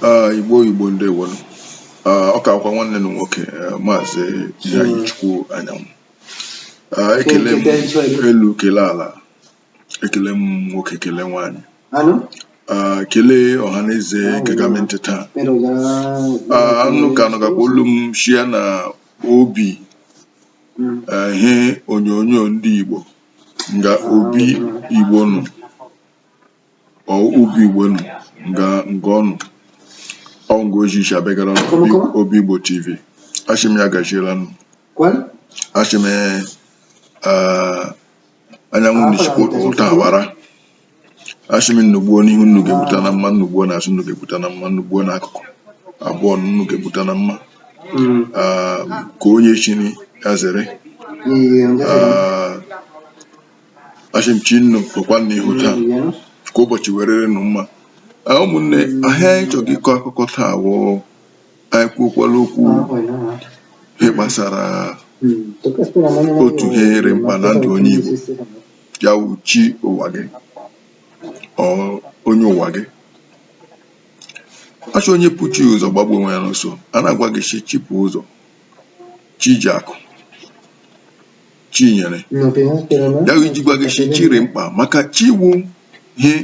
Ah, igbo igbo ndewo nụ Ah, ọ ka wụkwa nwanne nnu nwoke eh, maazị Iheanyi Chukwu Anyanwụ Ah, ekele m elu kele ala ekele m nwoke kele nwaanyị Ah, kelee ọha na eze ga-ege m ntị taa Ah, nnu ka nụgakwa olu m shi na obi Mm. eh, ihe onyonyo ndị igbo nga obi igbo nọ ọ obi igbo nọ nga nga ọ nọ ọ wụ nga o ji shi abịagara nụ obi igbo tv ashị m ya gaziela nụ ashị m eh, anyanwụ Ah, n'ishi ụta awara ashị m nnu gbuo n'ihu nnu ga-egbuta na mma nnu gbuo na azụ nnu ga-egbuta na mma nnu gbuo na akụkụ abụọ nnu ga-egbuta na mma Mm. Ah, ka onye chiri ya zere Ah, Asị m chi nnu kwekwa n'ihu taa ka ụbọchị werere nụ mma Ah, ụmụnne ihe anyị chọrọ ịkọ akụkọ taa wụ anyị kwuokwala okwu ihe gbasara otu ihe rị mkpa na ndụ onye Igbo ya wụ chi ụwa gị ọ onye ụwa gị ashị onye bu chi ụzọ gbagbuo onwe ya n'ọsọ a na-agwa gị shị chi bu ụzọ chi ji akụ chinyere ya iji gwa gị shị chi rị mkpa maka chi wụ ihe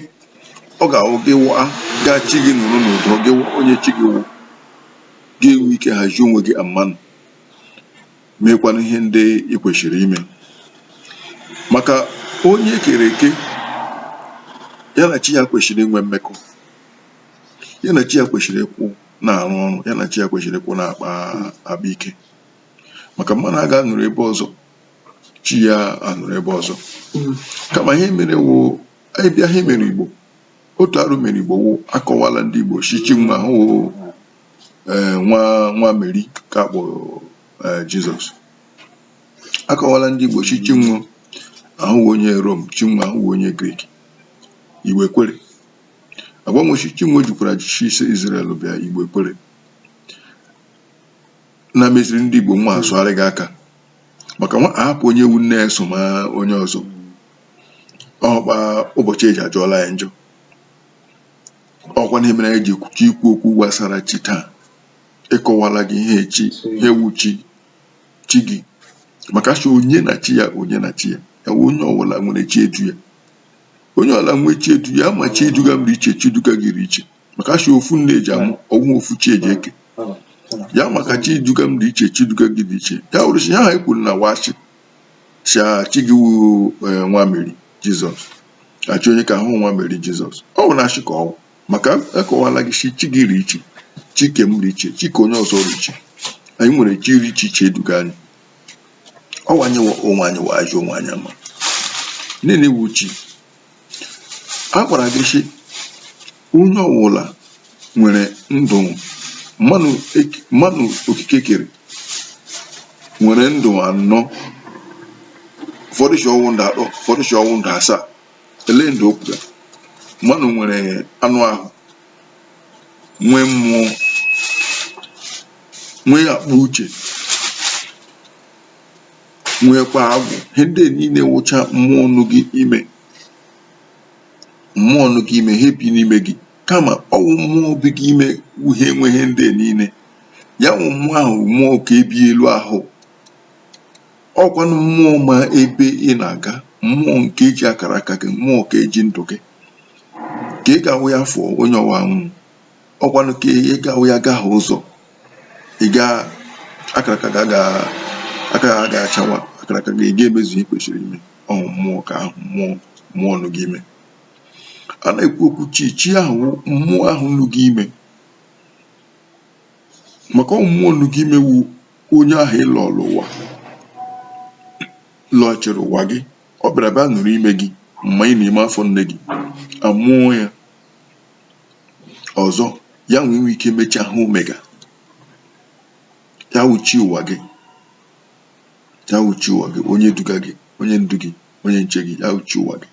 ọ ga-awụ gị waa gaa chi gị nọrọ n'ụdọ gị onye chi gị wụ ị ga-enwe ike hazie onwe gị amanụ meekwana ihe ndị ị kwesịrị ime maka onye e kere eke ya na chi ya kwesịrị inwe mmekọ ya na chi ya kwesịrị ịkwụ na-arụ ọrụ ya na chi ya kwesịrị ịkwụ na-akpa akpa ike maka mmadụ a ga-anọrọ ebe ọzọ chi ya anọrọ ebe ọzọ mm. kama ihe mere wụ anyị bịa ihe mere igbo otu arụ mere igbo wụ akọwala ndị igbo shị chi nwa ahụ eh, nwa nwa meri ka akpọ eh, jizọs akọwala ndị igbo shị chi nwa ahụ wụ onye rom chi nwa ahụ onye grik igbo ekwere a gwa nwa shị chi nwa jikwara shi ise izrel bịa igbo ekwere na-emeziri ndị Igbo nwa asụgharịga aka maka nwa ahapụ onye wụ nne esoma onye ọzọ ọkpa ụbọchị eji ajọọla ya njọ ọkwanụ ihe mere anyị ji chọ ikwu okwu gbasara chi taa ịkọwala gị ihe chi ihe wụ chi chi gị maka sị onye na chi ya onye na chi ya ya wụ onye ọbụla nwere chi edu ya onye ọbụla nwee chi edu ya kama chi eduga m dị iche chi eduga gị dị iche maka si ofu nne eji amụ ọwụ ofu chi eji eke ya maka chi duga m dị iche chi duga gị dị iche ya wụrụ si ya ha ekwuru na wachi si chi gị wu eh, nwa meri jizọs chi onye ka ahụ nwa meri jizọs ọ bụ na achị ka ọwụ maka akọwala gị si chi gị ri iche chi ke m ri iche chi ke onye ọzọ ri iche anyị nwere chi ri iche iche eduga anyị ọwanye onwe anyị wa ajụ onwe anyị ama nne na-ewu chi a gwara gị sị onye ọwụla nwere ndụ mmanụ eke- mmanụ okike kere nwere ndụ anọ ụfọdụ si ọwụ ndụ atọ ụfọdụ si ọwụ ndụ asaa ele ndụ o kwuru mmanụ nwere anụ ahụ nwee mmụọ nwee akpa uche nwekwa agwụ ihe ndị niile wụcha mmụọ nụ gị ime mmụọ nụ gị ime ha ebi n'ime gị kama ọwụ mmụọ bi gị ime wụ ihe nwe ihe ndị niile ya wụ mmụọ ahụ mmụọ ke bi elu ahụ ọkwanụ mmụọ ma ebe ị na-aga mmụọ nke ji akara aka gị mmụọ ke ji ndụ gị ka ị ga-awụ ya fụọ onye ọwụ anwụọ ọkwanụ ka ọ ga-awụ ya gahie ụzọ ị ga akara aka ga ga aka ha ga-achawa akara aka gị ị ga-emezu ihe i kwesịrị ime ọwụ mmụọ ka ahụ mmụọ mmụọ nụ gị ime a na-ekwu okwu chi chi ahụ wụ mmụọ ahụ nụ gị ime maka ọ mmụọ nụ gị ime wu onye ahụ ị lọrọ ụwa lọchiri ụwa gị ọ bịara bịa nọrọ ime gị mma ị nọ ime afọ nne gị amụọ ya ọzọ ya nwe i nwe ike me chi ahụ omega ya wụ chi ụwa gị ya wụ chi ụwa gị onye duga gị onye ndu gị onye nche gị ya wụ chi ụwa gị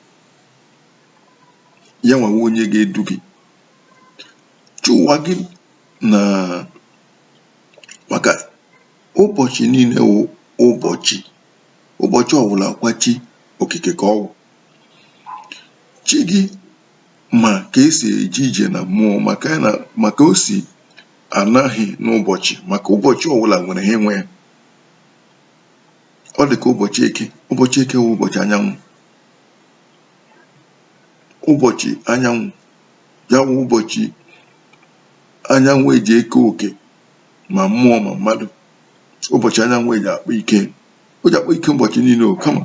ya nwa wụ onye ga-edu gị chi ụwa gị na maka ụbọchị niile wụ ụbọchị ụbọchị ọbụla kwa chi okike ka ọwụ chi gị ma ka esi eje ije na mmụọ maka ya na maka o si anaghị n'ụbọchị maka ụbọchị ọbụla nwere ihe nwe ya ọ dị ka ụbọchị eke ụbọchị eke wụ ụbọchị anyanwụ ụbọchị anyanwụ ya wụ ụbọchị anyanwụ eji eke oke ma mmụọ ma mmadụ ụbọchị anyanwụ eji akpa ike o ji akpa ike ụbọchị niile o kama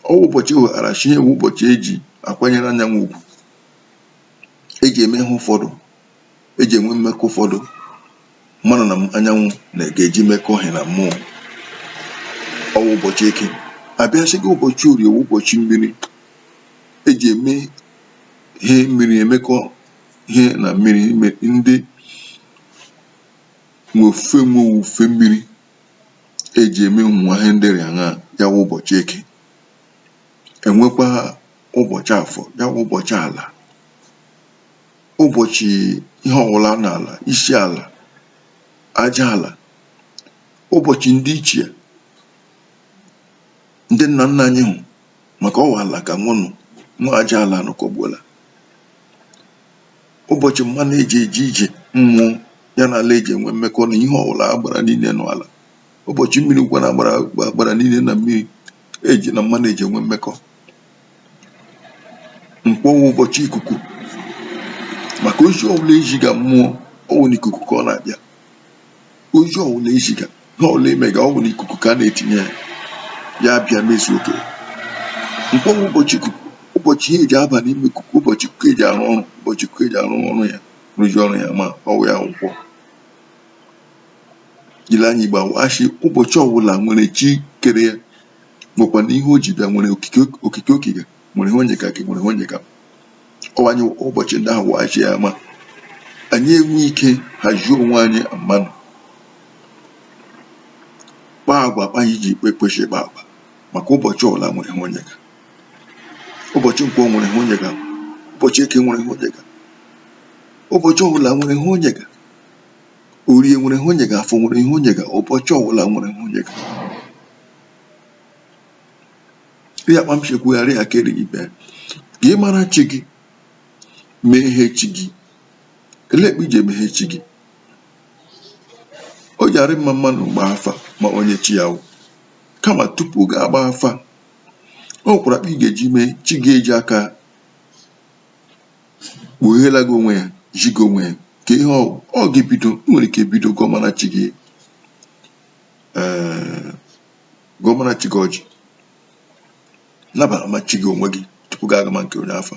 ọ bụ ụbọchị o wetara chi ọ wụ ụbọchị eji akwanyere anyanwụ ugwu eji eme ihe ụfọdụ eji enwe mmekọ ụfọdụ mmadụ na anyanwụ na ga-eji mekọ ihe na mmụọ ọ bụ ụbọchị eke a bịa sị gị ụbọchị orie wụ ụbọchị mmiri eji eme ihe mmiri emekọ ihe na mmiri ndị nwe ofufe nwe owufe mmiri eji eme ụmụ nwa ihe ndị rị aṅa ya wụ ụbọchị eke enwekwa ụbọchị afọ ya wụ ụbọchị ala ụbọchị ihe ọwụla n'ala isi ala aja ala ụbọchị ndị ichie ndị nna nna anyị hụ maka ọ wụ ala ka nwụnụ nwa aja ala anụkọgbuola ụbọchị mmanụ eji eje ije mmụọ ya na ala eji enwe mmekọ na ihe ọbụla agbara niile nọ ala ụbọchị mmiri wụkwa na agbara agbara niile na mmiri eji na mmanụ eji enwe mmekọ nkwọ wụ ụbọchị ikuku maka ozi ọbụla eziga mmụọ ọ wụ na ikuku ka ọ na-aga ozi ọwụla eziga ihe ọwụla i mega ọ wụ n'ikuku ka a na-etinye ya ya bịa mezuo oke nkwọ wụ ụbọchị ikuku ụbọchị ihe eji aba n'ime ikuku ụbọchị ikuku eji arụ ọrụ ụbọchị ikuku eji arụ ọrụ ya rụzi ọrụ ya ma ọ wụ ya wụ nkwọ jiri anya igbo asị ụbọchị ọwụla nwere chi kere ya nwekwa na ihe o ji bịa nwere okike okike okike nwere ihe o nyega gị nwere ihe o nyega ọ wụ ụbọchị ndị ahụ wachi ya ama anyị enwe ike hazie onwe anyị mmanụ kpaa agwa akpa anyị ji ikpe kwesị ịkpa agwa maka ụbọchị ọwụla nwere ihe o nyega ụbọchị nkwọ nwere ihe o nyega ụbọchị eke nwere ihe o nyega ụbọchị ọbụla nwere ihe o nyega orie nwere ihe o nyega afọ nwere ihe o nyega ụbọchị ọbụla nwere ihe o nyega ya kpa m si ekwugharị ya ka erighị ibe ya ka ị mara chi gị mee ihe chi gị ele kpa i ji eme ihe chi gị o ji arị mma mmanụ gbaa afa ma onye chi ya wụ kama tupu gị agba afa o nwekwara akpa ị ga-eji mee chi gị eji aka kpugheela gị onwe ya zi gị onwe ya ka ihe ọ ọ ga-ebido nwere ike bido gọmara chi gị ee gọmara chi gị ọjị nabama chi gị onwe gị tupu gị agama nke onye afa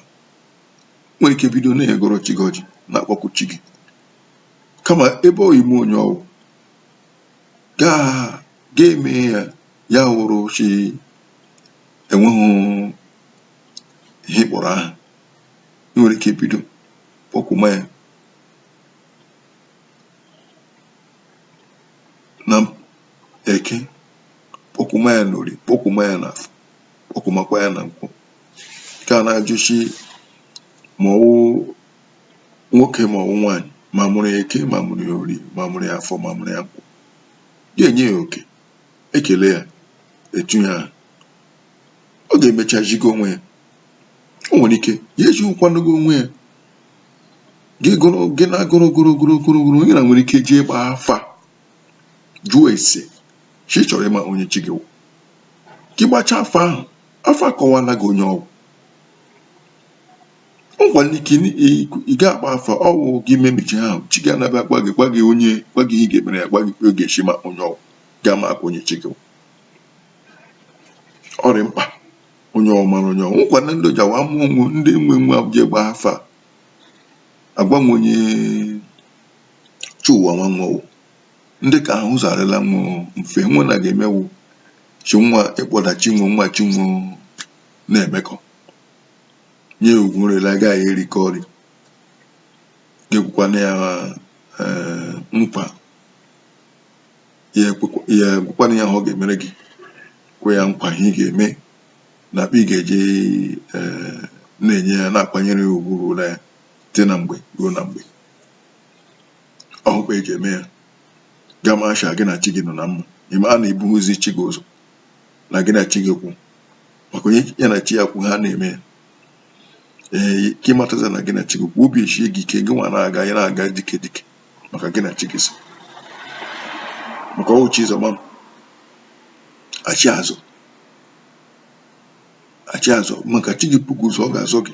nwere ike bido na-agọrọ chi gị ọjị na-akpọku chi gị kama ebe ọ ime onye ọ wụ gaa ga-eme ya ya wụrụ chi enweghị ihe ị kpọrọ aha ị nwere ike bido kpọkuma ya na eke kpọkuma ya na orie kpọkuma ya na afọ kpọkumakwa ya na nkwọ nke a na-ajụchi ma ọ wụ nwoke ma ọ wụ nwaanyị ma a mụrụ ya eke ma a mụrụ ya orie ma a mụrụ ya afọ ma a mụrụ ya nkwọ ga-enye ya oke ekele ya etu ya ọ ga-emecha jigo onwe ya o nwere ike ya eji ụkwanogo onwe ya gị na-agụrụ ogoro ogoro ogoro ogoro onye na nwere ike jee gbaa afa jụọ ese sị ị chọrọ ịma onye chi gị wụ gị gbachaa afa ahụ afa akọwaala gị onye ọ wụ ngwara ike ị ga-agba afa ọ wụ gị memechi ahụ chi gị anabịa gwa gị gwa gị onye gwa gị ihe ị ga-emere ya gwa gị oge echi ma onye ọ wụ ga ama aka onye chi gị wụ ọ rị mkpa onye ọ wụ mara onye ọ wụ nkwa na ndị ji awa mụọ onwe ndị nwe nwa eje gba afa agwa nwa onye chi nwa nwa wụ ndị ka ahụ ụzọ arịla nwa mfe nwa na ga-emewu chi nwa ịkpọda chi nwa nwa chi nwa na-emekọ nye ugwu nrịla agaghị erikọ ori ga-ekwekwana ya eh, nkwa ya ekwekwa- ya gwakwana ya ihe ọ ga-emere gị kwe ya nkwa ihe ị ga-eme na akpa ị ga-eji eh, na-enye ya na-akwanyere ya ugwu ruola ya site na mgbe ruo na mgbe ọkwa eji eme ya gị amasha gị na chi gị nọ na mma ịma na ebughịzi chi gị ụzọ na gị na chi gị kwụ maka onye ya na chi ya kwụ ha na-eme ya ee ka ịmataza na gị na chi gị kwụ obi eshie gị ike gị nwa na-aga ya na-aga dike dike maka gị na chi gị so maka ọ wụ chi zọma m chi azọ chi azọ maka chi gị bu gị ụzọ ọ ga-azọ gị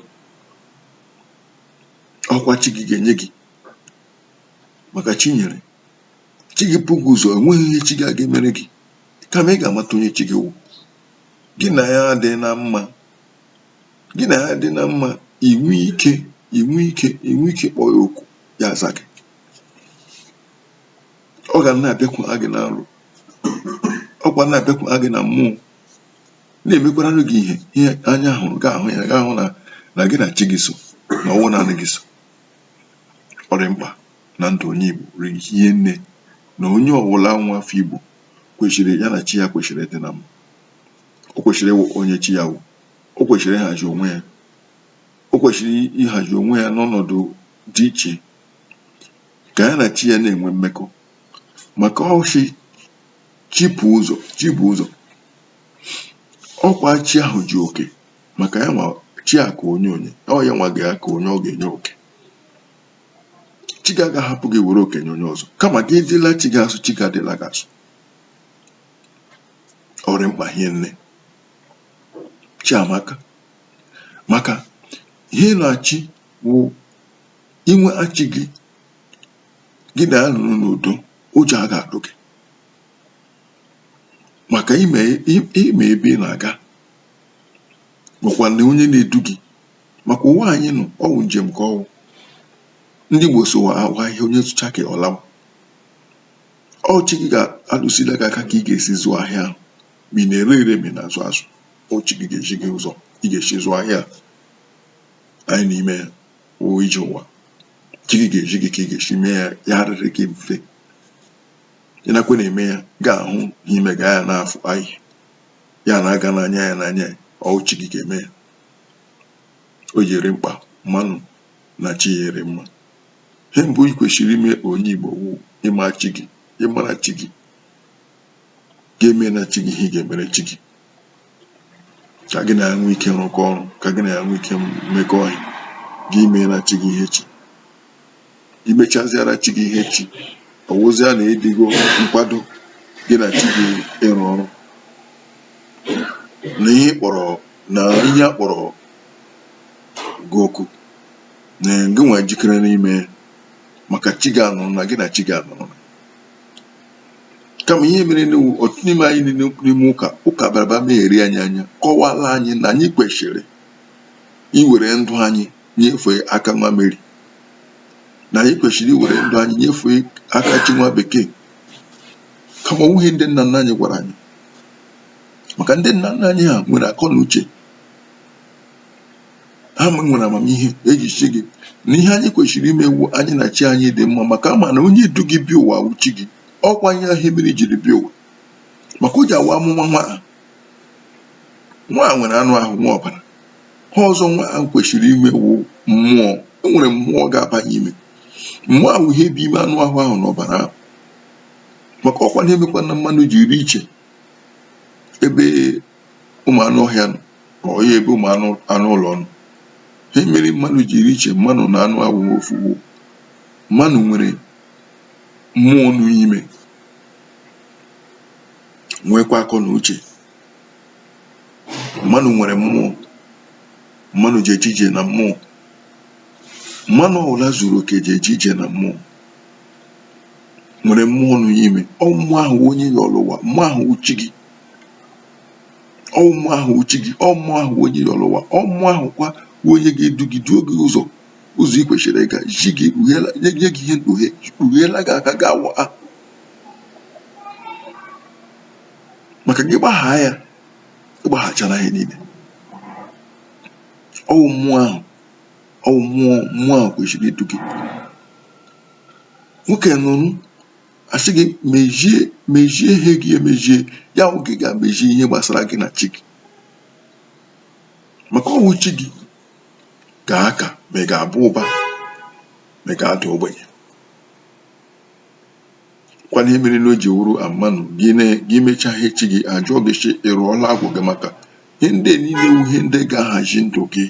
ọkwa chi gị ga-enye gị maka chi nyere chi gị bu gị ụzọ enweghị ihe chi gị aga emere gị kama ị ga-amata onye chi gị wụ gị na ya dị na mma gị na ya adị na mma inwe ike inwe ike inwe ike kpọọ ya okwu ya aza gị ọ ga na-abịakwu gị na nrọ ọkwa na-abịakwu gị na mmụọ na-emekwaranụ gị ihe ihe anya hụrụ gị ahụ ya gị ahụ na na gị na chi gị so na ọ wụ naanị gị so ọ rị mkpa na ndụ onye Igbo rie nne na onye ọwụla nwa afọ Igbo kwesịrị ya na chi ya kwesịrị ịdị na mma o kwesịrị ịma onye chi ya wụ o kwesịrị ịhazi onwe ya o kwesịrị ịhazi onwe ya n'ọnọdụ dị iche ka ya na chi ya na-enwe mmekọ maka ọ sị chi bu ụzọ chi bu ụzọ ọ kwa chi ahụ ji oke maka ya nwa chi a ka onye onye ọ ya nwa ga-aka onye ọ ga-enye oke chi gị agaghị ahapụ gị were oke nye onye ọzọ kama gị dịla chi gị asọ chi gị adịla gị asọ ọ rị mkpa hie nne chi amaka maka ihe na-achị wụ inwe chi gị gị na ya nọrọ n'udo ụjọ agaghị atụ gị maka ịma ịma ebe ị na-aga makwa na onye na-edu gị maka ụwa anyị nọ ọ wụ njem ka ọ wụ ndị Igbo sị ụwa wụ ahịa onye zụcha ka ọ laa ọ chi gị ga-alụzila gị aka ka ị ga-esi zụọ ahịa ahụ ma ị na-ere ere ma ị na-azụ azụ ọ chi gị ga-ezi gị ụzọ ị ga-esi zụọ ahịa anyị n'ime ụwa ije ụwa chi gị ga-ezi gị ka ị ga-esi mee ya ya arịrị gị mfe ị nakwa na-eme ya ga-ahụ n'ime ga ya n'afọ anyị ya na-aga n'anya ya n'anya ọ chi gị ga-eme ya ọ rị mkpa mmanụ na chi ya rị mma ihe mbụ ị kwesịrị ime onye Igbo wụ ịma chi gị ịmara chi gị ga-emena chi gị ihe ị ga-emere chi gị ka gị na ya nwee ike rụkọ ọrụ ka gị na ya nwee ike mekọọ ihe gị emeela chi gị ihe chi gị mechaziara chi gị ihe chi ọ wụzia na ị dịgo nkwado gị na chi gị ịrụ ọrụ na ihe kpọrọ na ihe a kpọrọ gị oku na gị nwa jikere ime ya maka chi gị anọrọ na gị na chi gị anọrọ kama ihe mere na ọtụtụ n'ime anyị niile n'ime ụka ụka baraba na-eri anyị anya kọwara anyị na anyị kwesịrị iwere ndụ anyị nyefee aka nwa Meri na anyị kwesịrị iwere ndụ anyị nyefee aka chi nwa bekee kama ọ wụghị ihe ndị nna nna anyị gwara anyị maka ndị nna nna anyị ha nwere akọ na uche ha nwere amamihe e ji sị gị na ihe anyị kwesịrị ime wụ anyị na chi anyị dị mma maka ha ma na onye du gị bịa ụwa wụ chi gị ọkwa ihe mere i jiri bịa ụwa maka o ji awa a mụma nwa nwa nwere anụ ahụ nwee ọbara ihe ọzọ nwa ahụ kwesịrị inwe wụ mmụọ e nwere mmụọ ga-abanye ime mmụọ ahụ ihe bụ ime anụ ahụ ahụ na ọbara ahụ maka ọkwa ihe mekwana mmanụ ji rị iche ebe ụmụ anụ ọhịa nọ ka ọ ya ebe ụmụ anụ anụ ụlọ nọ ihe mere mmadụ ji rị iche mmanụ na anụ awụ ofu mmanụ nwere mmụọ nọ ime nwekwa akọ na uche mmanụ nwere mmụọ mmanụ ji eje ije na mmụọ mmanụ ọbụla zuru oke ji eje ije na mmụọ nwere mmụọ nọ ime ọ mmụọ ahụ onye yọlụ ụwa mmụọ ahụ wụ chi gị ọ mmụọ ahụ wụ chi gị ọ mmụọ ahụ wụ onye ọlọ ụwa ọ mmụọ ahụ kwa wụ onye ga-edu gị duo gị ụzọ ụzọ ị kwesịrị ịga nye gị ihe mkpughe kpugheela gị aka gị awa a maka gị gbaghaa ya ị gbaghachara ihe niile ọ wụ mmụọ ahụ ọ wụ mmụọ mmụọ ahụ kwesịrị idu gị nwoke nụrụ a sị gị mezie mezie ihe gị emezie ya wụ gị gaa mezie ihe gbasara gị na chi gị maka ọ wụ chi gị ga-aka ma ị ga-aba ụba ma ị ga-ada ogbenye kwa ihe mere na o ji wụrụ amanụ gị mechaa ihe chi gị a jụọ gị sị ị rụọla agwụ gị maka ihe ndị niile wu ihe ndị ga-ahazi ndụ gị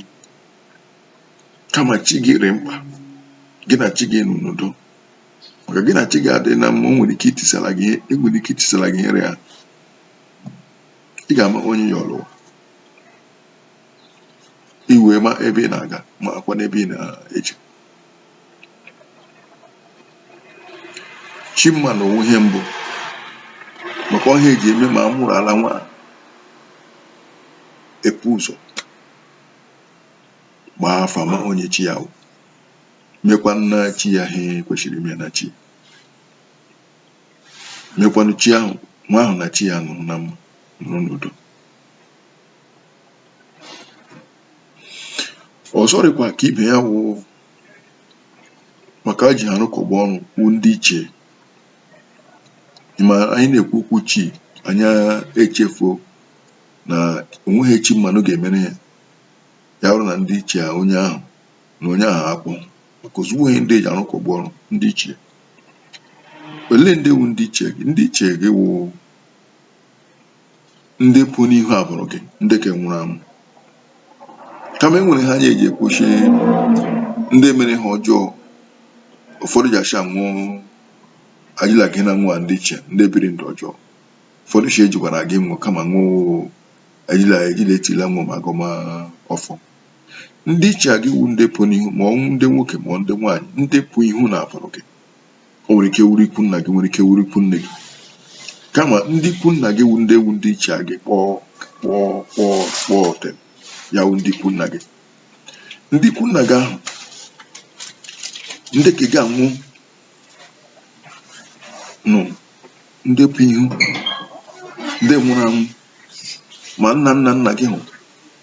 kama chi gị rị mkpa gị na chi gị nọ n'udo maka gị na chi gị adịghị na mma o nwere ike itisara gị ihe e nwere ike itisara gị ihe rị ya ị ga-ama onye ya ọlọ ụwa i wee ma ebe ị na-aga makwa n'ebe ị na-eche chimma na onwe ihe mbụ makwa ihe e ji eme ma a mụrụla nwa e pu ụzọ gbaa afa ma onye chi ya wụ mekwanụ chi ya ihe kwesịrị ime na chi mekwanụ chi ahụ nwa ahụ na chi ya nọrọ na mma nọrọ n'udo ọ sọrịkwa ka ibe ya wụ maka e ji ha arụkọba ọrụ wụ ndị ichie ma anyị na-ekwu okwu chi anyị echefuo na o nweghị chi mmanụ ga-emere ya ya bụrụ na ndị ichie onye ahụ na onye ahụ akpọ cause ọ wụ ihe ndị e ji arụkọba ọrụ ndị ichie olee ndị wu ndị ichie gị ndị ichie gị wụ ndị pụ n'ihu abụrụ gị ndị nke nwụrụ anwụ kama e nwere ihe anyị ji ekwu sị ndị mere ihe ọjọọ ụfọdụ ji acha nwụọ ajila gị na nwa ndị ichie ndị biri ndụ ọjọọ ụfọdụ sị ejikwara gị nwụọ kama nwụọ ajila ejila etila nwụọ ma gọma ọfọ ndị ichie gị wu ndị pụ n'ihu ma ọ wụ ndị nwoke ma ndị nwaanyị ndị pụ ihu n'abụrụ gị o nwere ike wuru ikwu nna gị nwere ike wuru ikwu nne gị kama ndị ikwu nna gị wu ndị ichie gị kpọọ kpọọ kpọọ kpọọ ọtem ya wu ndị ikwu nna gị ndị ikwu nna gị ahụ ndị nke gị anwụ nụ ndị pụ ihu ndị nwụrụ anwụ ma nna nna nna gị hụ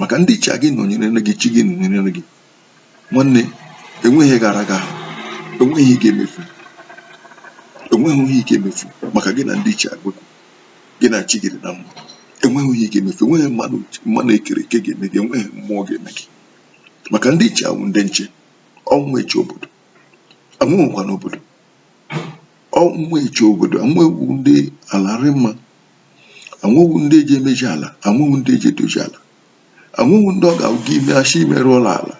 maka ndị ichie gị nọnyerenụ gị chi gị nọnyerenụ gị nwanne enweghị gara aga enweghị ihe ị ga-emefu enweghị ihe ị ga-emefu maka gị na ndị ichie gị gị na chi gị rị na mma enweghị ihe ị ga-emefu enweghị mmadụ ekere eke ga-eme gị enweghị mmụọ ga-eme gị maka ndị ichie wụ ndị nche ọ wụ ha eche obodo ha nwekwanụ obodo ọ wụ ha eche obodo ha nwa wụ ndị ala rị mma ha nwa wụ ndị eji emeji ala ha nwa wụ ndị eji edoji ala ha nwa wụ ndị ọ ga-awụ gị ime asị imerụọla ala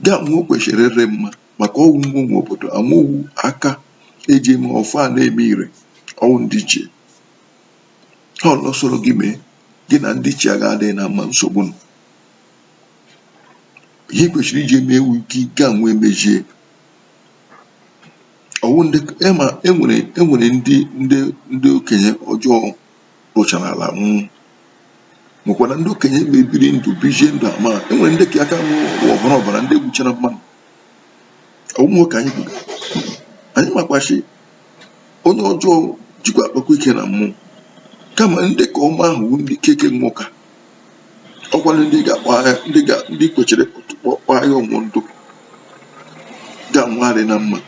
gị ha nwa kwesịrị ịrị mma maka ọ wụ ha nwe obodo ha nwa wụ aka eji eme ọfọ a na-eme ire ọ wụ ndị ichie ha ọlọ soro gị mee gị na ndị ichie gị adịghị na mma nsogbu nọ ihe kwesịrị iji eme wụ gị ga-anwa emejie Ọ wụ ndị e ma e nwere e nwere ndị ndị ndị okenye ọjọọ rụchara ala nwụọ nwekwara ndị okenye ọma biri ndụ bizie ndụ ọma e nwere ndị ke aka wụ ọbara ọbara ndị gbuchara mmadụ ọ wụ nwoke anyị kwuru anyị makwa sị onye ọjọọ jikwa akpakwa ike na mmụọ kama ndị ke ọma ahụ bụ ndị keke nwụka ọkwa ndị ga-akpọ aha ndị ga ndị kwesiri kpọkpọ aha wụ ndị gị na ha rị na mma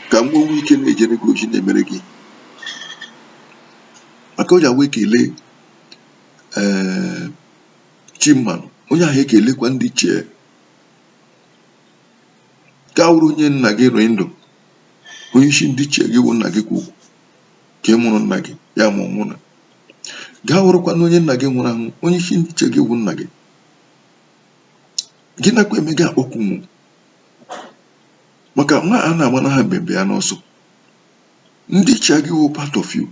ka ha nwee ike na-ejere gị ozi na-emere gị maka onye wee kelee ee chi mmanụ onye ahụ ekelekwa ndị ichie ka ọ wụrụ onye nna gị rị ndụ onye isi ndị ichie gị wụ nna gị ukwu ke mụrụ nna gị ya ma ọ nwụrụ gaa wụrụkwanụ onye nna gị nwụrụ anwụ onye isi ndị ichie gị wụ nna gị gị nakwa eme gị akpọkwu mụ maka nwa a na-agba na ha mbembe ya n'ọsọ ndị ichie gị wụ part of you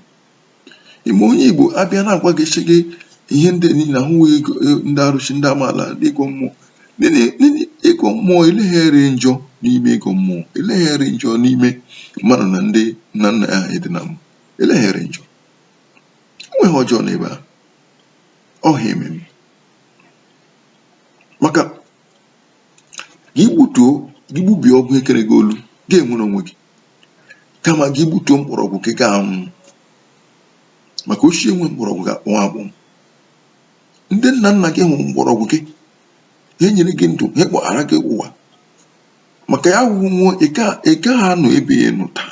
ime onye igbo abịa na-agwa gị sị gị ihe ndị niile a ị na-agọ e, ndị arụsị ndị amaala ndị ịgọ mmụọ Nene- nene- ịgọ mmụọ enweghị ihe rị njọ n'ime ịgọ mmụọ enweghị ihe rị njọ n'ime mmadụ na ndị nna nna ya ha ịdị na mma enweghị ihe rị njọ enweghị ọjọọ n'ebe a ọha eme m maka ka ị gbutuo gị gbubie agbụ ekere gị olu ị ga-enwere onwe gị kama gị gbutuo mkpọrọgwụ gị ị ga-anwụ maka osisi enweghị mkpọrọgwụ ga-akpọnwụ akpọ ndị nna nna gị wụ mkpọrọgwụ gị ha nyere gị ndụ ha kpọbara gị ụwa maka ya wụ ihe ị ga-anọ ebe ị nọ taa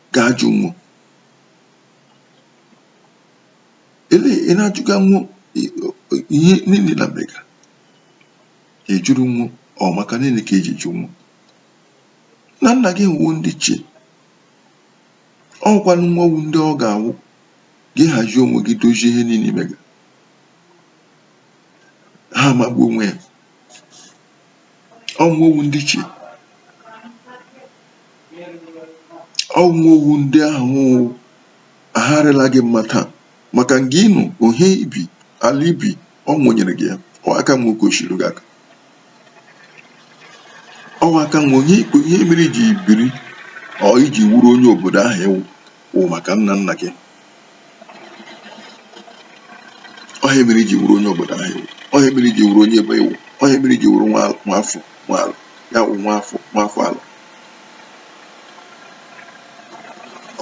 ga-ajụ nwo ele ị na-ajụga nwo ihe niile na mega ajụrụ nwo ọ maka niile ka eji jụ nwo na nna gị nwo ndị ichie ọ wụkwanụ nwo wụ ndị ọ ga-awụ gị hazie onwe gị dozie ihe niile mega ha amagbu onwe ya ọ wụ nwo wụ ndị ichie ọ wụ nwo wụ ndị ahụ agharịla gị mma taa maka nga ị nọ ohe i bi ala i bi ọ nwo nyere gị ya ọ ha ka nwe oke osiri gị aka ọ wụ ha ka nwe onye ikpe ihe mere i ji biri ọ i ji wụrụ onye obodo ahụ ị wụ wụ maka nna nna gị ọ ha mere i ji wụrụ onye obodo ahụ ị wụ ọ ha mere i ji wụrụ onye ebe ị wụ ọ ha mere i ji wụrụ nwa afọ nwa ala ya wụ nwa afọ nwa afọ ala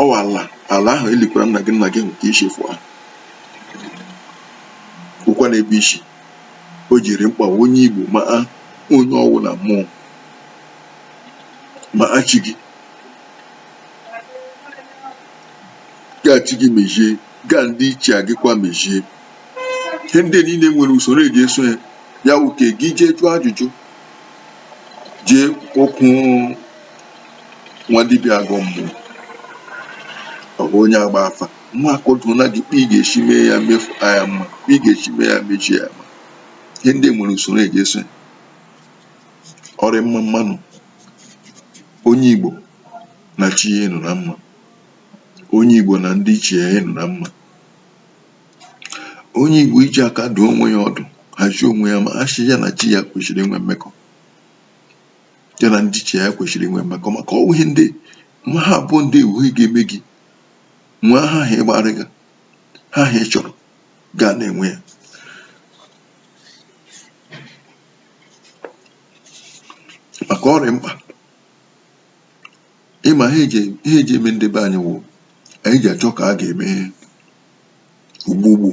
ọ wụ ala ala ahụ elikwara nna gị nna gị nke i si fụ ahụ ọ kwa n'ebe isi o ji rị mkpa onye igbo ma onye ọ wụ na mmụọ ma chi gị gaa chi gị mezie gaa ndị ichie gị kwa mezie ihe ndị niile nwere usoro eji eso ya ya wụ ka gị jee jụọ ajụjụ jee okwu nwa dibịa agọ mmụọ ọ bụ onye agba afa nwa akọdụ na gị kpa ị ga-esi mee ya mefu anya mma kpa ị ga-esi mee ya mechie ya mma ihe ndị nwere usoro eji eso ya ọ rị mma mmanụ onye Igbo na chi ya ịnọ na mma onye Igbo na ndị ichie ya ịnọ na mma onye Igbo iji aka dụọ onwe ya ọdụ hazie onwe ya ma sị ya na chi ya kwesịrị inwe mmekọ ya na ndị ichie ya kwesịrị inwe mmekọ maka ọ wụ ihe ndị nwa ha abụọ ndị wụ ihe ga-eme gị nwee ha ha ị gbarịga ha ha ị chọrọ ga na-enwe ya maka ọ rị mkpa ịma ha eji ha eji eme ndị be anyị wụ anyị ji achọ ka a ga-eme ugbugbu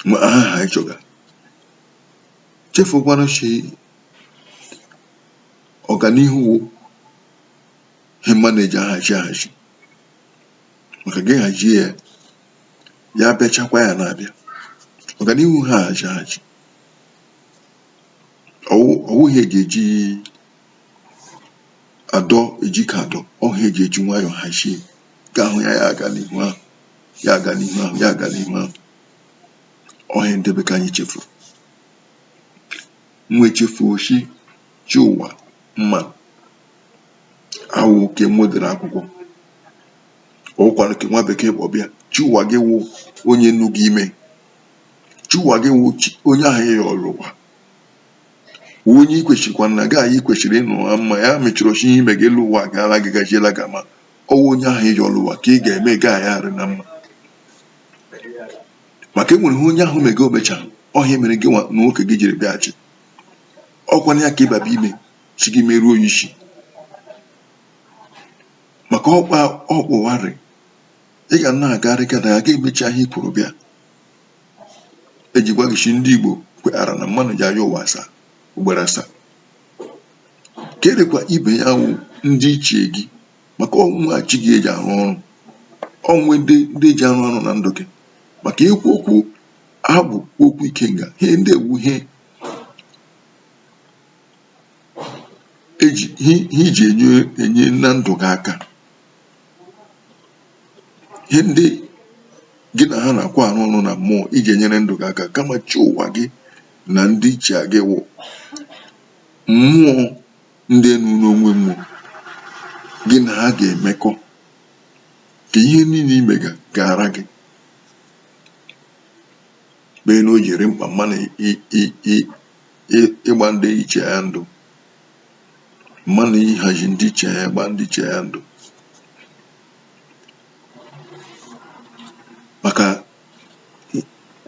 ma aha ha anyị chọga chefukwana sị ọganihu wụ ihe mma na-eji ahazi ahazi maka gị hazie ya ya bịachakwa ya na-abịa ọganihu ha ahazi ahazi ọ wụ ọ wụghị ihe eji eji adọ eji ike adọ ọ ihe eji eji nwayọọ hazie ka ahụ ya ya aga n'ihu ahụ ya aga n'ihu ahụ ya aga n'ihu ahụ ọ ihe ndị be ka anyị chefuru nwa echefuo chi chi ụwa mma awụ nke nwedere akwụkwọ ọ wụkwanụ nke nwa bekee kpọbịa chi ụwa gị wụ onye nọ gị ime Chi ụwa gị wụ chi- onye ahụ ị yọrọ ụwa onye i kwesịrịkwa na gị na ya kwesịrị ịnọ na mma ya mechọrọ chi ime gị elu ụwa gaala gị gajiela gị ama ọwụ onye ahụ ị yọrọ ụwa ka ị ga-eme gị na ya arị na mma maka enwere ihe onye ahụ mega omechaghị ya mere gị nwa na nwoke gị jiri bịaghachi ụwa na ya ka ịbaba ime si gị meruo ya isi maka ọkpa ọkpụwarị ị ga na-agarị gada ya ga-emecha ihe i kwuru bịa eji gwa gị si ndị Igbo kweghara na mmanụ ji ayọ ụwa asaa ugboro asaa kedịkwa ibe ya wụ ndị ichie gị maka ọ wụghị chi gị eji arụ ọrụ onwe ndị ndị ji arụ ọrụ na ndụ gị maka ekwuo okwu agwụ kwuo okwu ikenga ihe ndị a wụ ihe eji ihe iji enye enye na ndụ gị aka ihe ndị gị na ha na-akwa arụ ọrụ na mmụọ iji enyere ndụ gị aka kama chi ụwa gị na ndị ichie gị wụ mmụọ ndị enu n'onwe mmụọ gị na ha ga-emekọ ka ihe niile i mega gaara gị kpee na o ji rị mkpa mmanụ ịgba ndị ichie ya ndụ mmadụ ihazi ndị ichie ya gba ndị ichie ya ndụ maka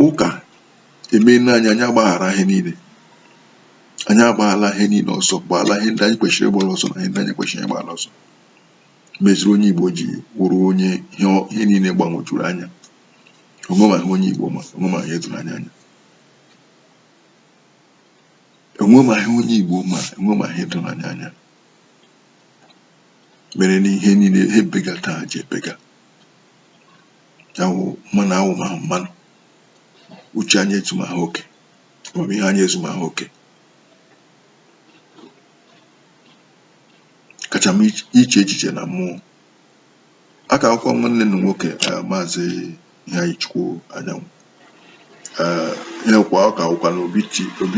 ụka emeena anyị anyị agbaghara ihe niile anyị agbaala ihe niile ọsọ gbaala ihe ndị anyị kwesịrị ịgbara ọsọ na ihe ndị anyị ekwesịghị ịgbara ọsọ meziri onye igbo ji wụrụ onye ihe niile gbanwejuru anya onwe ma ihe onye igbo ma onwe ma ihe doro anyị anya enwe ma ihe onye Igbo ma enwe ma ihe doro anyị anya mere na ihe niile ha ebega taa ji ebega awụ mmanụ awụ ma mmanụ uche anyị ezu ma ha oke amamihe anyị ezu ma ha oke kacha m iche echiche na mmụọ ọ ka wụkwa nwanne unu nwoke eh, maazị Iheanyịchukwu Anyanwụ eh, ihe kwa ọ ka wụkwa na Obi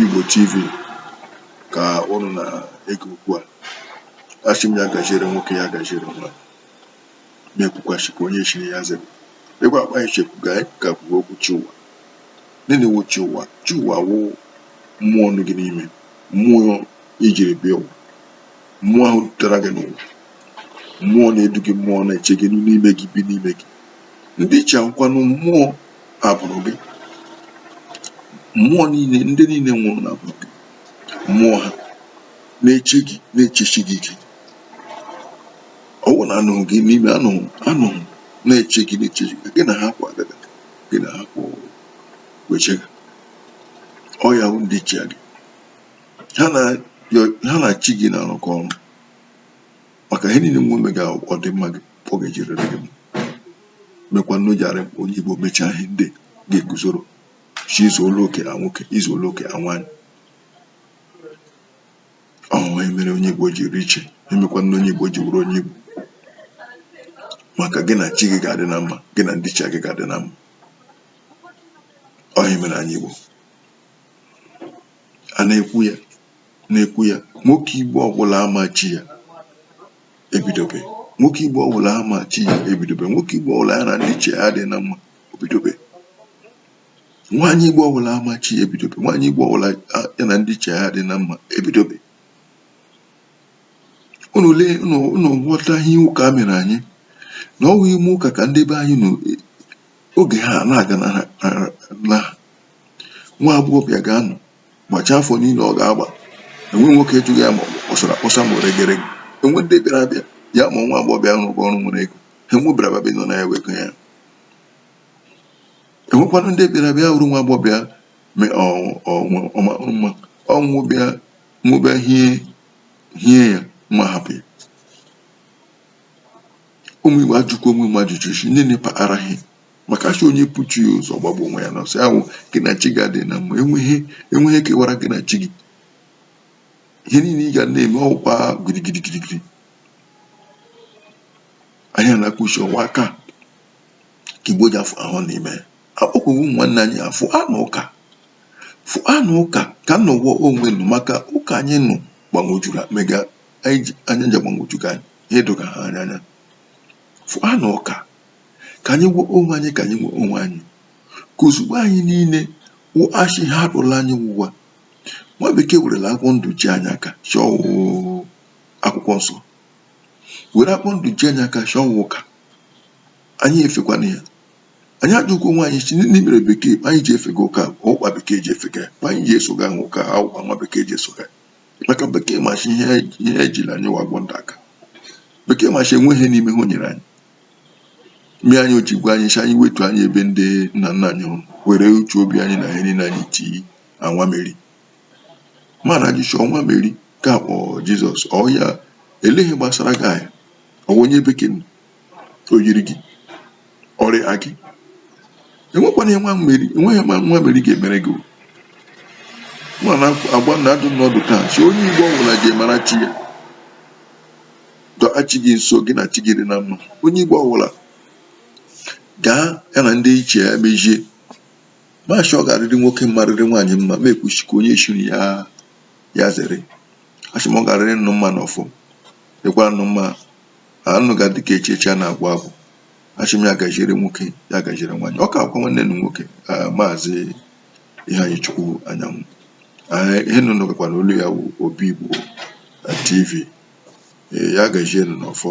Igbo TV ka ụnụ na-ege okwu a asị m ya gaziere nwoke ya gaziere nwa na-ekwukwachikwa onye chiri ya zere ịgwa akpa ichekwu ga ka kwuo okwu chi ụwa gịnị wụ chi ụwa chi ụwa wụ mmụọ nọ gị n'ime mmụọ i jiri bịa ụwa mmụọ ahụ dutere gị n'ụwa mmụọ na-edu gị mmụọ na-eche gị n'ime gị bi n'ime gị ndị ichie a wụkwanụ mmụọ agbụrụ gị mmụọ niile ndị niile nwụrụ n'agbụrụ gị mmụọ ha na-eche gị na-echechi gị ike ọ wụ na anọghị gị n'ime anụghị anụghị na-eche gị na-eche gị gị na ha kwụ agaga gị na ha kwụ echega ọ ya bụ ndị ichie gị ha na ha na chi gị na-arụkọ ọrụ maka ihe niile nwa eme ga-adị mma gị ọ ga-ejirịrị gị mma. mekwanụ jara onye igbo mechaa ihe ndị ga-eguzoro chi izu ụlọ oke na nwoke izu ụlọ oke na nwaanyị ọ wụ ihe mere onye igbo ji rị iche ihe mekwanụ onye igbo ji wụrụ onye igbo maka gị na chi gị ga-adị na mma gị na ndị ichie gị ga-adị na mma ọ ihe mere anyị igbo a na-ekwu ya na-ekwu ya nwoke igbo ọbụla ama chi ya ebidobe nwoke igbo ọbụla ama chi ya ebidobe nwoke igbo ọbụla ya na ndị ichie ya dị na mma ebidobe nwaanyị igbo ọbụla ama chi ya ebidobe nwaanyị igbo ọbụla ya na ndị ichie ya dị na mma ebidobe unu lee unu ghọta ihe ụka mere anyị na ọ wụ ime ụka ka ndị be anyị nọ oge ha na-aga na nwa agbọghọbịa ga-anọ gbacha afọ niile ọ ga-agba enwe nwoke ajụghị ya ma ọ bụ kpọsara akpọsa ma oregere enwe ndị bịara abịa ya ma nwa agbọghọbịa ahụ rụrụ ọrụ nwere ego ha enwebara babe nọ na ya wego ya enwekwanụ ndị bịara bịa hụrụ nwa agbọghọbịa mara mma ọnwụ bịa nwụbịa hie hie ya ma hapụ ya ụmụ igbo ajụkwa onwe m ajụjụ isi nne na-epa araghị maka a sị onye bu chi ya ụzọ gbagbuo onwe ya n'ọsọ ya wụ gị na chi ga-adị na mma enweghị ihe kewara gị na chi gị ihe niile ị ga na-eme ọ wụkwa gidigidi gidigidi anya na-akpụchi ọwa aka ka igbo ji afọ ahụ n'ime akpọkwaghị ụmụ nwanne anyị fụanụ ụka fụanụ ụka ka unu nọwa onwe unu maka ụka anyị nọ gbagwojuru mega anyị ji anya nja gbagwojuga anyị ha edoga ha anya anya fụanụ ụka ka anyị gwa onwe anyị ka anyị gwa onwe anyị ka ozugbo anyị niile wụ ashị ha rụla anyị wụwa nwa bekee werela agwọ ndụ ji anyị aka shị akwụkwọ nsọ were agwọ ndụ ji anyị aka shị ụka anyị efekwana ya anyị ajụkwa onwe anyị sị gịnị mere bekee anyị ji efega ụka ụkpa bekee ji efega anyị ji esoga ahụ ụka ha ụkpa nwa bekee ji esoga maka bekee ma shị ihe ihe ejila anyị wụ agwọ ndụ aka bekee ma shị enwe ihe n'ime ha o nyere anyị mere anyị o ji gwa anyị shị anyị wetu anya ebe ndị nna nna anyị hụrụ were uche obi anyị na ihe niile anyị tii na nwa meri mana gị shị ọ nwa meri ka a kpọ jizọs ọ ya eleghị gbasara gị anya ọ bụ onye bekee nọ o yiri gị ọrịa gị enwekwana ya nwa meri enweghị ihe nwa meri ga-emere gị nwa na-agba na-adụ nụ ọdụ taa sị onye igbo ọbụla je mara chi ya dọọ chi gị nso gị na chi gị dị na mma onye igbo ọbụla gaa ya na ndị ichie ya mejie ma shị ọ ga-arịrị nwoke mma rịrị nwaanyị mma ma ekwusi ka onye chiri ya ya zere ashị m ọ ga-arịrị nụ mma n'ọfọ dịkwara nụ mma ụnụ ga-adị ka echi echi a na-agwụ agwụ ashị m ya gajiere nwoke ya gajiere nwaanyị ọ kakwa nwanne nụ nwoke maazị iheanyịchukwu anyanwụ ihe nụ nụgakwana olu ya bụ obi igbo tv ya gajiere nụ n'ọfọ